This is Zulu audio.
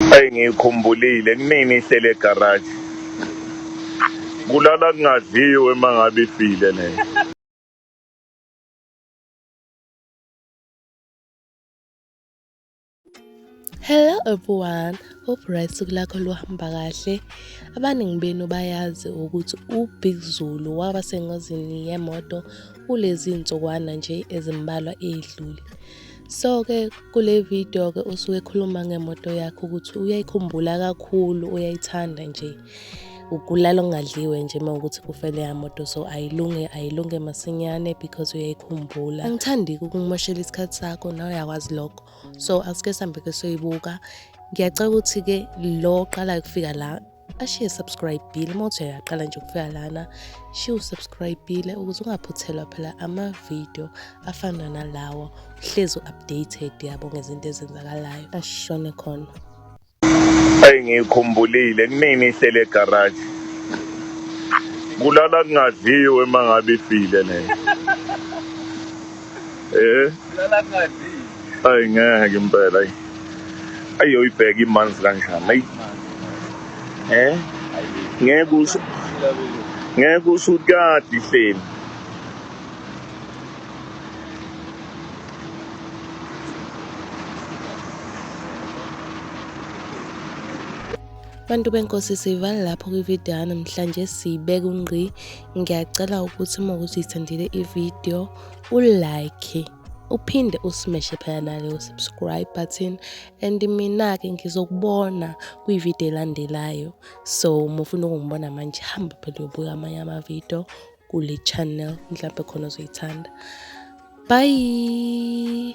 Eyi ngiyikhumbulile kunini ihlele egaraji. Kulala kungadliwe uma ngabe ifile leyo. Hello everyone, hope right usuku lakho luhamba kahle. Abaningi benu bayazi ukuthi uBig Zulu waba sengozini yemoto kulezi nsukwana nje ezimbalwa edlule. So-ke kule video-ke usuke ekhuluma ngemoto yakhe ukuthi uyayikhumbula kakhulu, uyayithanda nje. Ukulala okungadliwe nje uma ukuthi kufele yamoto so ayilunge ayilunge masinyane because uyayikhumbula. Angithandi-ke ukungimoshela isikhathi sakho nawe uyakwazi lokho. So asike sihambe-ke soyibuka. Ngiyacela ukuthi-ke lo oqalayo ukufika la ashiye subscribe bile uma uthi uyaqala nje ukufika lana shiye usubscribe bile ukuze ungaphuthelwa phela ama-video afana nalawo uhlezi u-updated yabo ngezinto ezenzakalayo ashone khona eyi ngiyikhumbulile kunini ihlele egaraji kulala kungadliwe uma ngabe ifile leyo Eh. Lala ngadi. Ay ngeke impela ay. Ayoyibheka imanzi kanjani ay. Eh? Ngeke usu Ngeke usukadi hleli. bantu benkosi sivala lapho kwividiyo namhlanje siyibeka ungqi ngiyacela ukuthi uma ukuthi uyithandile ividiyo ulike uphinde usimeshe phela naleyo subscribe button and mina-ke ngizokubona kwividiyo elandelayo so uma ufuna ukungibona manje hamba phela uyobuka amanye amavidiyo kule channel mhlawumbe khona uzoyithanda bye